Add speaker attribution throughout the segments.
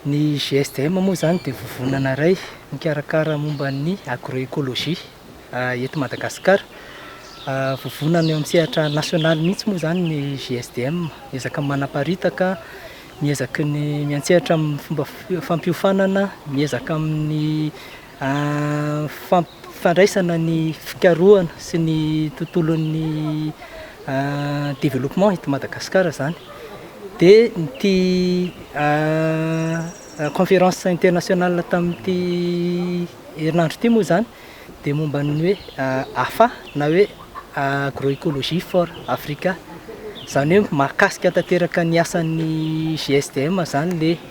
Speaker 1: Ny GSDM moa izany dia vovonana iray mikarakara momba ny agroecologie eto Madagasikara. Vovonana eo amin'ny sehatra nasionaly mihitsy moa izany ny GSDM. Miezaka manaparitaka, miezaka ny miantsehatra amin'ny fomba fampiofanana, miezaka amin'ny a Fampifandraisana ny fikarohana sy ny tontolon'ny a développement eto Madagasikara izany, dia ity a conférence internationale tamin'ity herinandro ity moa izany dia momba ny hoe AFA na hoe Agroecologie for Africa, izany hoe mahakasika tanteraka ny asan'ny GSDM izany le.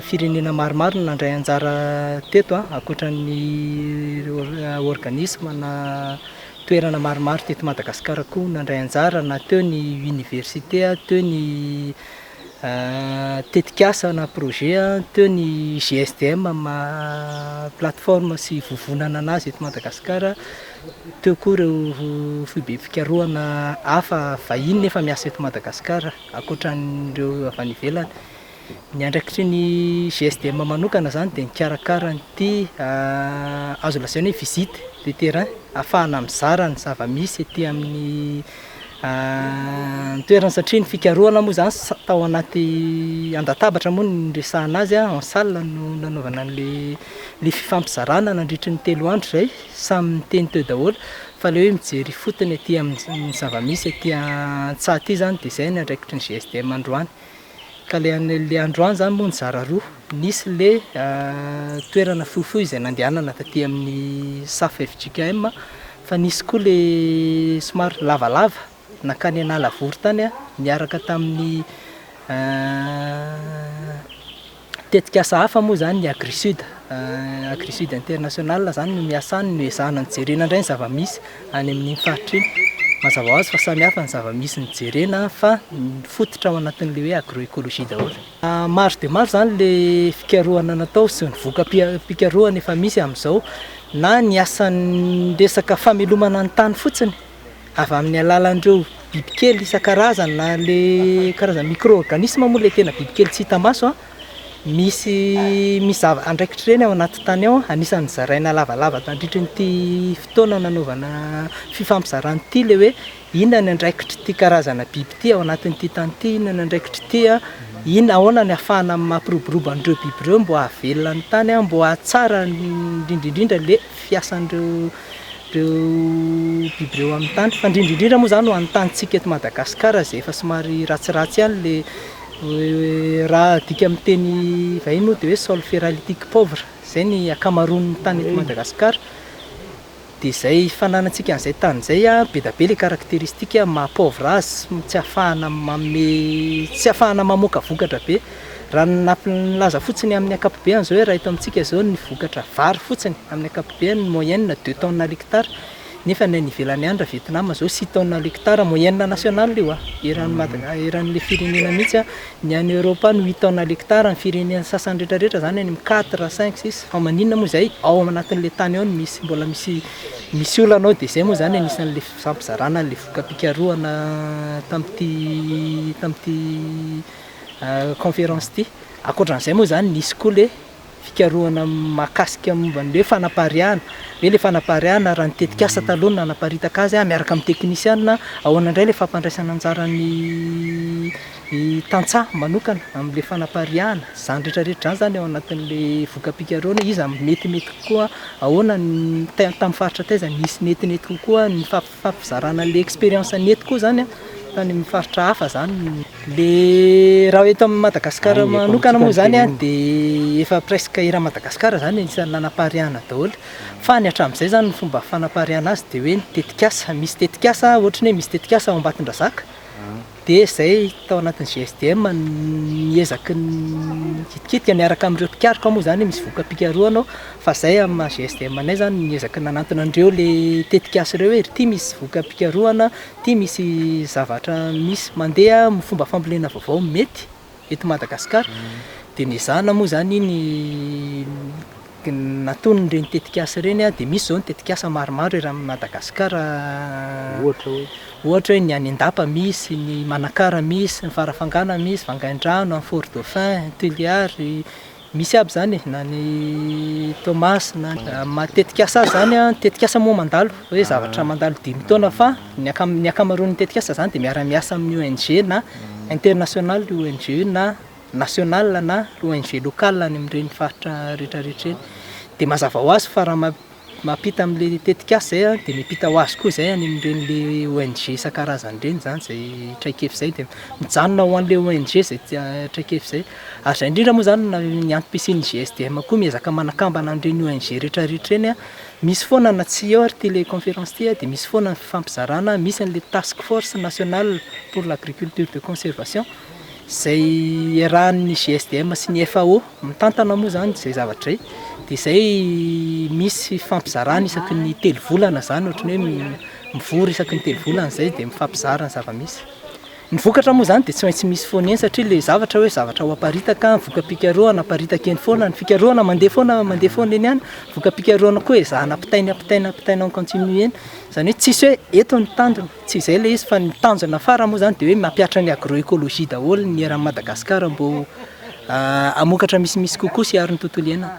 Speaker 1: Firenena maromaro no nandray anjara teto an, ankoatran'ny organisme na toerana maromaro teto Madagasikara koa nandray anjara na teo ny université, teo ny tetikasa na projet, teo ny GSDM amin'ny maha plateforme sy vovonana an'azy eto Madagasikara, teo koa ireo foibem-pikarohana hafa vahiny nefa miasa eto Madagasikara. ankoatran'ireo avy any ivelany. Ny andraikitry ny GSDM manokana izany dia mikarakara an'ity azo lazaina hoe visite de terrain, ahafahana mizara ny zava-misy ety amin'ny toerana satria ny fikarohana moa izany tao anaty an-databatra moa no niresahana azy, en salle no nanaovana an'ilay fifampizarana nandritry ny telo andro izay, samy niteny teo daholo. Fa le hoe mijery ifotony aty amin'ny zava-misy aty an-tsaha aty zany de zay ny andraikitry ny GSDM androany. Ka le le androany zany moa nizara roa, nisy le toerana fohifohy izay nandehanana taty amin'ny safa fjkm fa nisy koa le somary lavalava nankany Analavory tany niaraka tamin'ny Tetikasa hafa moa izany ny Agrisud, Agrisud International izany no miasa any no ezahana ny jerena indray ny zava-misy any amin'iny faritra iny. Mazava ho azy fa samy hafa ny zava-misy no jerena fa mifototra ao anatin'ilay hoe agro-ecologie daholo. Maro dia maro izany ilay fikarohana natao sy ny voka-pikarohana efa misy amin'izao na ny asan'ny resaka famelomana ny tany fotsiny. avy amin'ny alalan'ireo bibikely isan-karazany na le karazana micro-organisme moa le tena bibikely tsy hita maso an, misy misy zava andraikitra ireny ao anaty tany ao, anisan'ny zaraina lavalava tandritra ity fotoana nanaovana fifampizarana ity le hoe inona ny andraikitry ity karazana biby ity ao anatin'ity tany ity, inona ny andraikitry ity an, inona ahoana ny afahana mampiroborobo an'ireo biby ireo mbo hahavelona ny tany an, mbo hahatsara indrindra indrindra le fiasan'ireo Ireo biby ireo amin'ny tany, fa indrindra indrindra moa izany ho an'ny tanintsika eto Madagasikara izay efa somary ratsiratsy ihany ilay raha adika amin'ny teny vahiny moa dia hoe sol feralitique pauvre, izay ny ankamaroan'ny tany eto Madagasikara, dia izay fananantsika an'izay tany izay an, be dia be ilay caracteristique maha pauvre azy, tsy ahafahana manome, tsy ahafahana mamoaka vokatra be. Raha ny NAPL milaza fotsiny amin'ny ankapobeany izao eto amintsika izao ny vokatra vary fotsiny amin'ny ankapobeany moyenne deux tonnes à l'hectare nefa ny any ivelany any raha Vietnam izao six tonnes à l'hectare moyenne nationale io an! eran'i Mada- eran'ilay firenena mihitsy an! ny any Europe any huit tonnes à l'hectare ny firenena sasany retraretra izany any amin'ny quatre, cinq, six fa maninona moa izay ao amin'ny anatin'ilay tany ao no misy mbola misy misy olana ao dia izay moa izany anisan'ilay fifampizarana an'ilay voka-pikarohana tamin'ity tamin'ity Conférence ity. Ankoatran'izay moa izany nisy koa ilay fikarohana mahakasika momba ny hoe fanapariahana, hoe ilay fanapariahana raha ny tetikasa taloha no nanaparitaka azy miaraka amin'ny teknisiana, ahoana indray ilay fampandraisana anjaran'ny tantsaha manokana amin'ilay fanapariahana, izany rehetrarehetra izany izany ao anatin'ilay voka-pikarohana, iza no metimety kokoa, ahoana ny, tamin'ny faritra taiza no nisy metimety kokoa ny fampivelaran'ny. Fampizarana le experience ny eto koa zany an, fa any amin'ny faritra hafa zany, le raha eto amin'i Madagasikara manokana moa zany an de efa presque eran'i Madagasikara zany anisan'ny nanapariahana daholo, fa ny hatramin'izay zany ny fomba fanapariahana azy de hoe ny tetikasa, misy tetikasa ohatra ny hoe misy tetikasa ao Ambatondrazaka, dia izay tao anatin'ny GSDM ny ezaky ny nikitikitika miaraka amin'ireo mpikaroka moa izany misy voka-pikarohana ao fa izay amin'ny maha GSDM anay izany ny ezaky ny nanantona an'ireo ilay tetikasa ireo hoe ry ity misy voka-pikarohana, ity misy zavatra misy mandeha, fomba fambolena vaovao mety. eto Madagasikara dia nezahana moa izany ny nataony ireny tetikasa ireny dia misy izao ny tetikasa maromaro eran'ny Madagasikara ohatra hoe ohatra hoe ny any Andapa misy ny Manakara misy ny Farafangana misy Vangaindrano any Fort Dauphin Tuléar Misy aby zany e, na ny Thomas na amin'ny tetikasa azy zany an, ny tetikasa moa mandalo hoe zavatra mandalo dimy taona fa ny akam- ny ankamaroan'ny tetikasa zany de miara miasa amin'ny ONG na international ONG na national na ONG local any amin'ireny faritra rehetra rehetra ireny, de mazava ho azy fa raha ma- Mampita amin'ilay tetikasa izay dia miampita ho azy koa izay any amin'ireny ONG isan-karazany ireny izany izay traikefa izay dia mijanona ho an'ilay ONG izay traikefa izay. Ary izay indrindra moa izany na ny antom-pisian'ny GSDM koa miezaka manakambana an'ireny ONG rehetra rehetra ireny. Misy foana na tsy eo ary ity ilay conférence ity dia misy foana ny fifampizarana, misy an'ilay task force nationale pour l'agriculture de conservation izay iarahan'ny GSDM sy ny FAO. Mitantana moa izany izay zavatra izay, dia izay misy fifampizarana isaky ny telo volana izany, ohatran'ny hoe mivory isaky ny telo volana izay dia mifampizara ny zava-misy. Ny vokatra moa izany dia tsy maintsy misy foana eny satria ilay zavatra hoe zavatra ho aparitaka, voka-pikarohana aparitaka eny foana, ny fikarohana mandeha foana mandeha foana eny ihany, voka-pikarohana koa ezahana ampitaina ampitaina ampitaina en continu eny, izany hoe tsisy hoe eto ny tanjona. Tsy izay ilay izy fa ny tanjona farany moa izany dia hoe mampihatra ny agro-ecologie daholo ny eran'i Madagasikara mba ho hamokatra misimisy kokoa sy hiaro ny tontolo iainana.